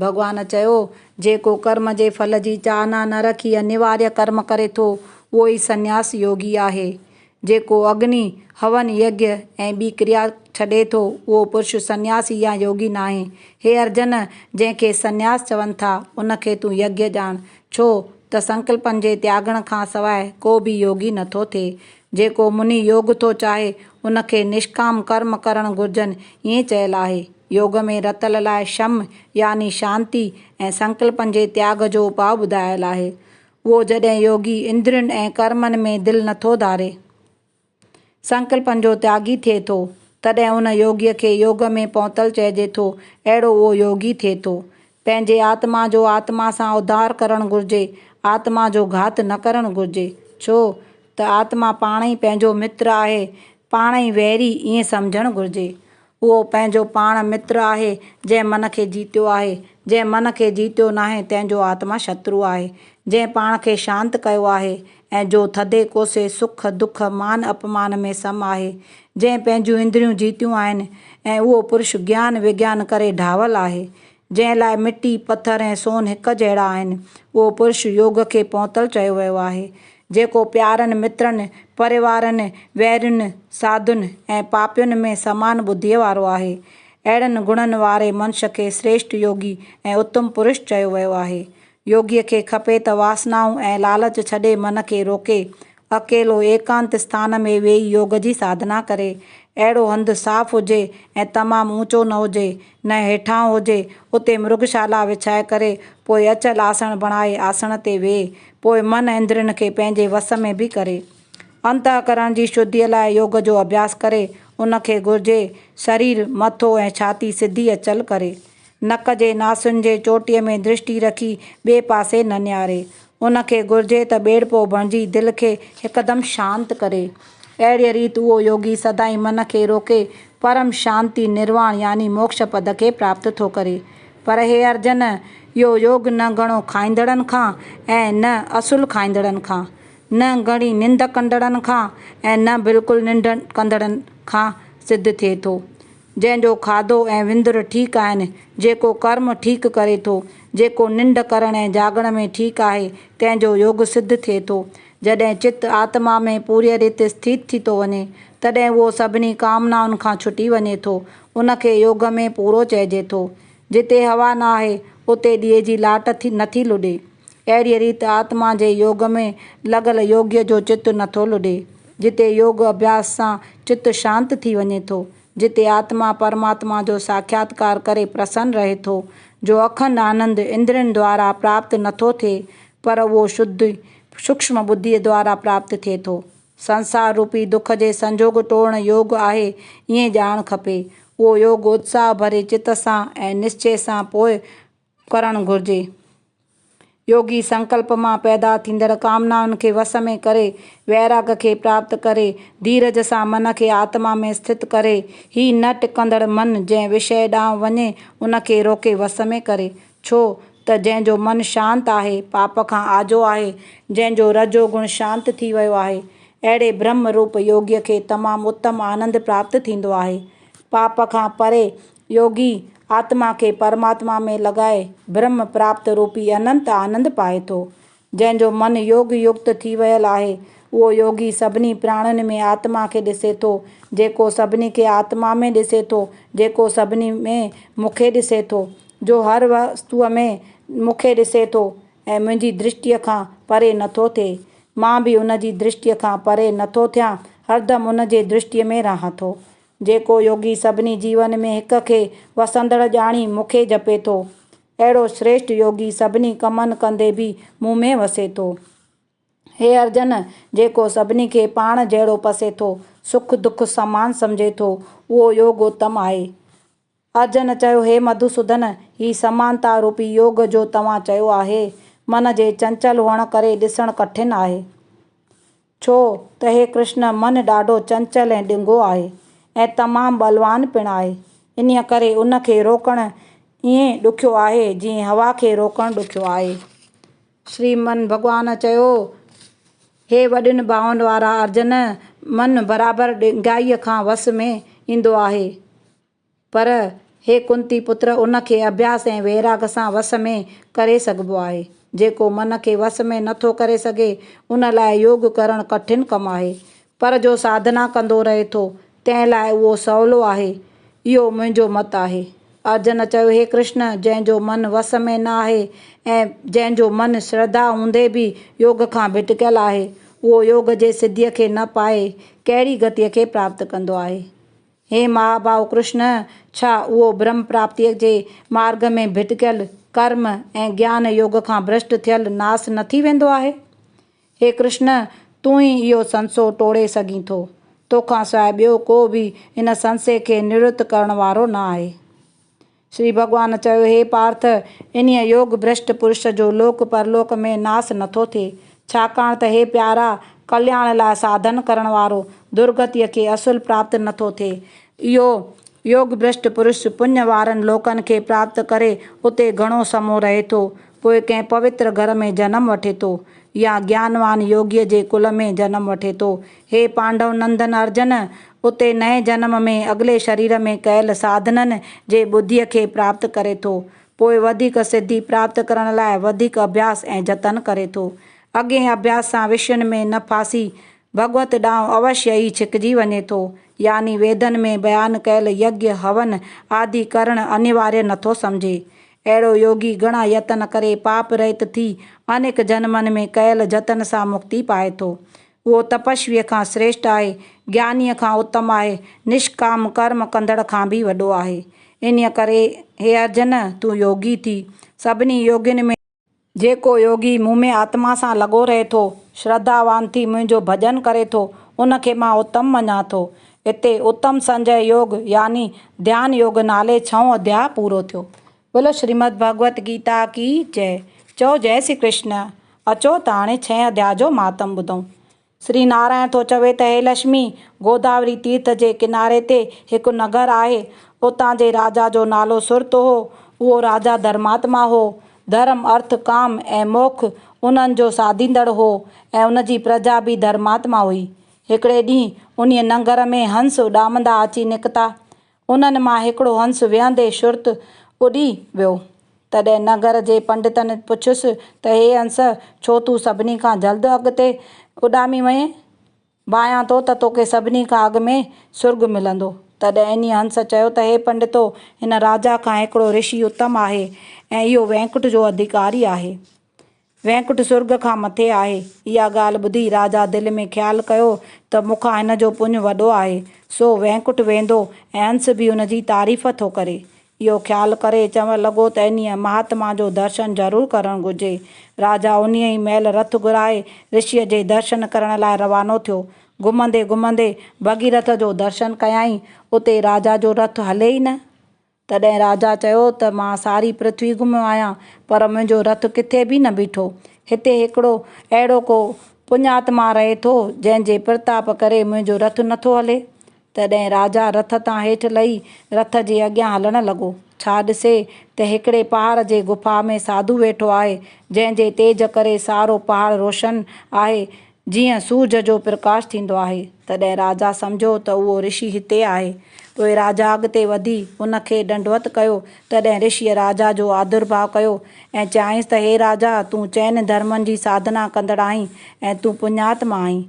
ڀڳوان چيو، جيڪو ڪرم جي ڦل جي چاهنا نه رکي انيواريه ڪرم ڪري ٿو، اهو ئي سنياس يوگي آهي. جيڪو اگني، هون، يگيه ۽ ٻي ڪريا ڇڏي ٿو، اهو پرش سنياسي يا يوگي ناهي. هي ارجن! جنهن کي سنياس چون ٿا، ان کي تون يگيه ڄاڻ. ڇو ته سنڪلپن جي تياڳڻ کان سواء ڪو به يوگي نه ٿو ٿئي. جيڪو مني يوگ ٿو چاهي، ان کي نشڪام ڪرم ڪرڻ گهرجن، ائين چيل آهي. يوگ ۾ رتل لاء شم يعني شانتي ۽ سنڪلپن جي تياڳ جو اپاء ٻڌايل آهي. اهو جڏهن يوگي اندرين ۽ ڪرمن ۾ دل نٿو ڌاري، سنڪلپن جو تياڳي ٿئي ٿو، تڏهن ان يوگي کي يوگ ۾ پهتل چئجي ٿو، اهڙو اهو يوگي ٿئي ٿو، پنهنجي آتما جو آتما سان اڌار ڪرڻ گهرجي، آتما جو گهات نه ڪرڻ گهرجي، ڇو ته آتما پاڻ ئي پنهنجو متر آهي، پاڻ ئي ويري ائين سمجهڻ گهرجي. اهو پنهنجو پاڻ متر آهي، جنهن من کي جيتيو آهي، جنهن من کي جيتيو ناهي تنهن جو آتما شترو آهي، جنهن پاڻ کي شانت ڪيو آهي ۽ جو ٿڌي ڪوسي، سک دک، مان اپمان ۾ سم آهي، جنهن پنهنجون اندريون جيتيون آهن ۽ اهو پرش گيان وگيان ڪري ڍاول آهي، جنهن لاء مٽي، پٿر ۽ سون هڪ جهڙا آهن، اهو پرش يوگ کي پهتل چيو ويو آهي، جيڪو پيارن مترن، پريوارن، ويرين، ساڌن ۽ پاپين ۾ سمان ٻڌيء وارو آهي. اهڙن گڻن واري منش کي سريشٺ يوگي ۽ اتم پرش چيو ويو آهي. يوگيء کي کپي ته واسنائون ۽ لالچ ڇڏي من کي روڪي، اڪيلو ايڪانت اسٿان ۾ ويهي يوگ جي ساڌنا ڪري. اهڙو هنڌ صاف هجي ۽ تمام اوچو نه هجي، نه هيٺاهون هجي، اتي مرگشالا وڇائي ڪري، پوء اچل آسڻ بڻائي آسڻ تي ويهي، پوء من اندرين کي پنهنجي وس ۾ به ڪري. انتهڪرڻ جي شڌيء لاء يوگ جو اڀياس ڪري، ان کي گهرجي، شرير، مٿو ۽ ڇاتي سڌي اچل ڪري. نڪ جي ناسين جي چوٽيء ۾ درشٽي رکي ٻئي پاسي نه نهاري. ان کي گهرجي ته ٻيڙپو بڻجي دل کي هڪدم شانت ڪري. اهڙيء ريت اهو يوگي سدائين من کي روڪي پرم شانتي، نرواڻ يعني موڪش پد کي پراپت ٿو ڪري. پر هي ارجن! اهو يوگ نه گهڻو کائيندڙن کان ۽ نه اصل کائيندڙن کان، نه گهڻي ننڊ ڪندڙن کان ۽ نه بلڪل ننڊ ڪندڙن کان سڌ ٿئي ٿو. جنهن جو کاڌو ۽ وندر ٺيڪ آهن، جيڪو ڪرم ٺيڪ ڪري ٿو، جيڪو ننڊ ڪرڻ ۽ جاڳڻ ۾ ٺيڪ آهي، تنهن جو يوگ سڌ ٿئي ٿو. جڏهن چت آتما ۾ پوريء ريت اسٿيت ٿي ٿو وڃي، تڏهن اهو سڀني ڪامنائن کان ڇٽي وڃي ٿو، ان کي يوگ ۾ پورو چئجي ٿو. جتي هوا نه آهي، اتي ڏيئي جي لاٽ نه ٿي لڏي. اهڙيء ريت آتما جي يوگ ۾ لڳل يوگيء جو چت نه ٿو لڏي. جتي يوگ اڀياس سان چت شانت ٿي وڃي ٿو، جتي آتما پرماتما جو ساکياتڪار ڪري پرسن رهي ٿو، جو اکنڊ آنند اندرين دوارا پراپت نٿو ٿئي، پر اهو شڌ سوڪشم ٻڌيء دوارا پراپت ٿئي ٿو. سنسار روپي دک جي سنجوڳ ٽوڙڻ يوگ آهي، ائين ڄاڻ کپي. اهو يوگ اتساهه ڀري چت سان ۽ نشچي سان پوء ڪرڻ گهرجي. يوگي سنڪلپ مان پيدا ٿيندڙ ڪامنائن کي وس ۾ ڪري، ويراڳ کي پراپت ڪري، ڌيرج سان من کي آتما ۾ اسٿت ڪري، هي نه ٽڪندڙ من جنهن وشيه ڏانهن وڃي، ان کي روڪي وس ۾ ڪري. ڇو ته جنهن جو من شانت آهي، پاپ کان آجو آهي، جنهن جو رجو گڻ شانت ٿي ويو آهي، اهڙي برهمه روپ يوگيء کي تمام اتم آنند پراپت ٿيندو آهي. پاپ کان پري يوگي آتما کي پرماتما ۾ لڳائي برهم پراپت روپي اننت آنند پائي ٿو. جنهن جو من يوگ يڪت ٿي ويل آهي، اهو يوگي سڀني پراڻين ۾ آتما کي ڏسي ٿو، جيڪو سڀني کي آتما ۾ ڏسي ٿو، جيڪو سڀني ۾ مون کي ڏسي ٿو، جو هر وستوء ۾ مون کي ڏسي ٿو ۽ منهنجي درشٽيء کان پري نٿو ٿئي. مان به ان جي درشٽيء کان پري نٿو ٿيان، هردم ان جي درشٽيء ۾ رهان ٿو. جيڪو يوگي سڀني جيون ۾ هڪ کي وسندڙ ڄاڻي مون کي جپي ٿو، اهڙو شريشٽ يوگي سڀني ڪمن ڪندي به مون ۾ وسي ٿو. هي ارجن، جيڪو سڀني کي پاڻ جهڙو پسي ٿو، سک دک سمان سمجهي ٿو، اهو يوگوتم آهي. ارجن چيو، هي مڌوسودن! هي سمانتا روپي يوگ جو توهان چيو آهي، من جي چنچل هئڻ ڪري ڏسڻ ڪٺن آهي. ڇو ته هي ڪرشن من ڏاڍو چنچل ۽ ڏنگو آهي ۽ تمام ٻلوان پڻ آهي. انهيء ڪري ان کي روڪڻ ائين ڏکيو آهي، جيئن هوا کي روڪڻ ڏکيو آهي. شري من ڀڳوان چيو، هي وڏين ڀاون وارا ارجن! من برابر ڏنگائيء کان وس ۾ ايندو آهي. پر هي ڪنتي پتر ان کي اڀياس ۽ ويراڳ سان وس ۾ ڪري سگهبو آهي. جيڪو من کي وس ۾ نه ٿو ڪري سگهي ان لاء يوگ ڪرڻ ڪٺن ڪم آهي. پر جو ساڌنا ڪندو رهي ٿو تنهن لاء اهو سولو آهي. اهو منهنجو مت آهي. ارجن چيو هي ڪرشن جنهن جو من وس ۾ نه آهي ۽ جنهن جو من شرڌا هوندي به يوگ کان ڀٽڪيل آهي اهو يوگ جي سڌيء کي نه پائي ڪهڙي گتيء کي پراپت ڪندو آهي. هي مهاباهو ڪرشن! ڇا اهو برهم پراپتيء جي مارگ ۾ ڀٽڪيل، ڪرم ۽ گيان يوگ کان ڀرشٽ ٿيل ناس نه ٿي ويندو آهي؟ هي ڪرشن! تون ئي اهو سنسو ٽوڙي سگهين ٿو. توکان سواء ٻيو ڪو به ان سنسي کي نوڙت ڪرڻ وارو نه آهي. شري ڀڳوان چيو، هي پارٿ! انهيء يوگ ڀرشٽ پرش جو لوڪ پرلوڪ ۾ ناس نٿو ٿئي، ڇاڪاڻ ته هي پيارا! ڪلياڻ لاء ساڌن ڪرڻ وارو درگتيء کي اصل پراپت نٿو ٿئي. اهو يوگ ڀرشٽ پرش پڃ وارن لوڪن کي پراپت ڪري اتي گهڻو سمو رهي ٿو، پوء ڪنهن پوتر گهر ۾ جنم وٺي ٿو يا گيانوان يوگيء جي ڪل ۾ جنم وٺي ٿو. هي پانڊو نندن ارجن، اتي نئين جنم ۾ اڳلي شرير ۾ ڪيل ساڌنن جي ٻڌيء کي پراپت ڪري ٿو. پوء وڌيڪ سڌي پراپت ڪرڻ لاء وڌيڪ اڀياس ۽ جتن ڪري ٿو. اڳئين اڀياس سان وشين ۾ نه ڦاسي ڀڳوت ڏانهن اوشيه ئي ڇڪجي وڃي ٿو. يعني ويدن ۾ بيان ڪيل يگيا، هون آدي ڪرڻ انيواريه نه ٿو سمجهي. اهڙو يوگي گهڻا يتن ڪري پاپ رهت ٿي انيڪ جنمن ۾ ڪيل جتن سان مڪتي پائي ٿو. اهو تپسويء کان سريشٽ آهي، گيانيء کان اتم آهي، نشڪام ڪرم ڪندڙ کان به وڏو آهي. انهيء ڪري هي ارجن! تون يوگي ٿي. سڀني يوگين ۾. جيڪو يوگي مون ۾ آتما سان لڳو رهي ٿو، شرڌاوان ٿي منهنجو ڀڄن ڪري ٿو، ان کي مان اتم مڃان ٿو. هتي اتم سنجهه يوگ يعني ڌيان يوگ نالي ڇهون اڌياء پورو ٿيو. بولو شريمد ڀڳوت گيتا ڪي جئه چئو جئه سري ڪرشن اچو ته هاڻي ڇهين اڌيا جو مهاتم ٻڌون سري نارائڻ ٿو چوي ته هي لشمي گوداوري تيرٿ جي ڪناري تي هڪ نگر آهي اتان جي راجا جو نالو سرت هو اهو راجا ڌرماتما هو ڌرم ارٿ ڪام ۽ موکھ انهن جو ساڌيندڙ هو ۽ ان جي پرجا به ڌرماتما هئي هڪڙي ڏينهن انهي ننگر ۾ هنس اڏامندا اچي نڪتا انهن مان هڪڙو هنس ويهندي شرط اڏي ويو. تڏهن نگر جي پنڊتن پڇيس ته هي هنس ڇو تون سڀني کان جلد اڳتي اڏامي وئين؟ ڀانيان ٿو ته توکي سڀني کان اڳ ۾ سرڳ ملندو. تڏهن انهي هنس چيو ته هي پنڊتو! هن راجا کان هڪڙو رشي اتم آهي ۽ اهو وينڪٽ جو اڌڪاري آهي. وينڪٽ سرڳ کان مٿي آهي. اها ڳالهه ٻڌي راجا دل ۾ خيال ڪيو ته مون کان هن جو پڃ وڏو آهي، سو وينڪٽ ويندو ۽ هنس به هن جي تعريف ٿو ڪري. اهو خيال ڪري چوڻ لڳو ته انهيء مهاتما جو درشن ضرور ڪرڻ گهرجي. راجا انهيء ئي مهل رٿ گهرائي رشيء جي درشن ڪرڻ لاء روانو ٿيو. گهمندي گهمندي ڀڳيرٿ جو درشن ڪيائين. اتي راجا جو رٿ هلي ئي نه. تڏهن راجا چيو ته مان ساري پرٿوي گهميو آهيان، پر منهنجو رٿ ڪٿي به نه بيٺو. هتي هڪڙو اهڙو ڪو پڃاتما رهي ٿو، جنهن جي پرتاپ ڪري منهنجو رٿ نه ٿو هلي؟ تڏهن راجا رٿ تان هيٺ لهي رٿ جي اڳيان هلڻ لڳو. ڇا ڏسي ته هڪڙي پهاڙ جي غفا ۾ ساڌو ويٺو آهي، جنهن جي تيج ڪري سارو پهاڙ روشن آهي، جيئن سورج جو پرڪاش ٿيندو آهي، تڏهن راجا سمجهيو ته اهو رشي هتي آهي. پوء راجا اڳتي وڌي ان کي ڏنڊوت ڪيو، تڏهن رشيء راجا جو آڌرڀاء ڪيو ۽ چيائينس ته هي راجا! تون چئن ڌرمن جي ساڌنا ڪندڙ آهين ۽ تون پڃاتما آهين.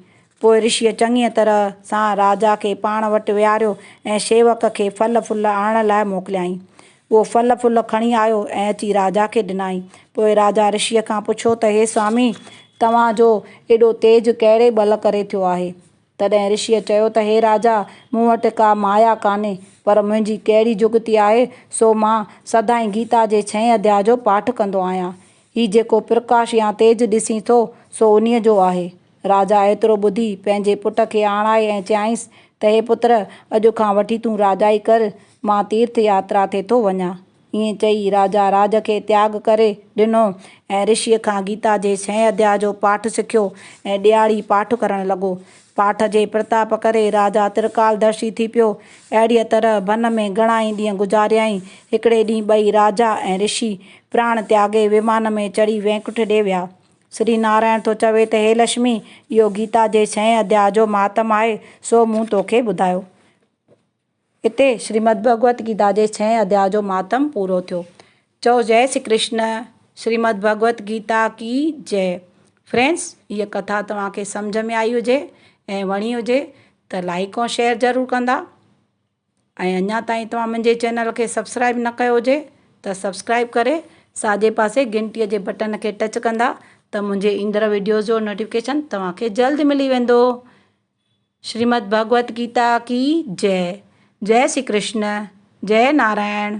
پوء رشيء چڱيء طرح سان راجا کي پاڻ وٽ ويهاريو ۽ شيوڪ کي ڦل ڦل آڻڻ لاء موڪليائين. اهو ڦل ڦل کڻي آيو ۽ اچي راجا کي ڏنائين. پوء راجا رشيء کان پڇيو ته هي سوامي! توهان جو ايڏو تيج ڪهڙي ٻل ڪري ٿيو آهي؟ تڏهن رشيء چيو ته هي راجا! مون وٽ ڪا مايا ڪانهي، پر منهنجي ڪهڙي جڳتي آهي، سو مان سدائين گيتا جي ڇهين اڌيا جو پاٺ ڪندو آهيان. هي جيڪو پرڪاش يا تيج ڏسين ٿو، سو انهيء جو آهي. راجا ايترو ٻڌي پنهنجي پٽ کي آڻائي ۽ چيائينس ته هي پتر! اڄ کان وٺي تون راجائي ڪر، مان تيرٿ ياترا تي ٿو وڃان. ائين چئي راجا راڄ کي تياڳ ڪري ڏنو ۽ رشيء کان گيتا جي ڇهين اڌياء جو پاٺ سکيو ۽ ڏيهاڙي پاٺ ڪرڻ لڳو. پاٺ جي پرتاپ ڪري راجا ترڪالدرشي ٿي پيو. اهڙيء طرح ڀن ۾ گهڻائي ڏينهن گذاريائين. هڪڙي ڏينهن ٻئي راجا ۽ رشي پراڻ تياڳي ومان ۾ چڙهي وينڪٺ ڏي ويا. شري نارائڻ ٿو چوي ته هي لشمي! اهو گيتا جي ڇهين اڌياء جو مهاتم آهي، سو مون توکي ٻڌايو. اتي شريمد ڀڳوت گيتا جي ڇهين اڌياء جو مهاتم پورو ٿيو. چئو جئه شري ڪرشن، شريمد ڀڳوت گيتا ڪي جئه. فرينڊس هيء ڪٿا توهان کي سمجهه ۾ آئي هجي ۽ وڻي هجي ته لائيڪ ۽ شيئر ضرور ڪندا. ۽ اڃا تائين توهان منهنجي چينل کي سبسڪرائب نه ڪيو هجي ته سبسڪرائب ڪري ساڄي پاسي گهنٽي جي بٽن کي ٽچ ڪندا ته منهنجي ايندڙ ويڊيوز جو نوٽيفڪيشن توهان کي جلد ملي ويندو شريمد ڀڳوت گيتا ڪي جئه جئه شري ڪرشن جئه نارائڻ.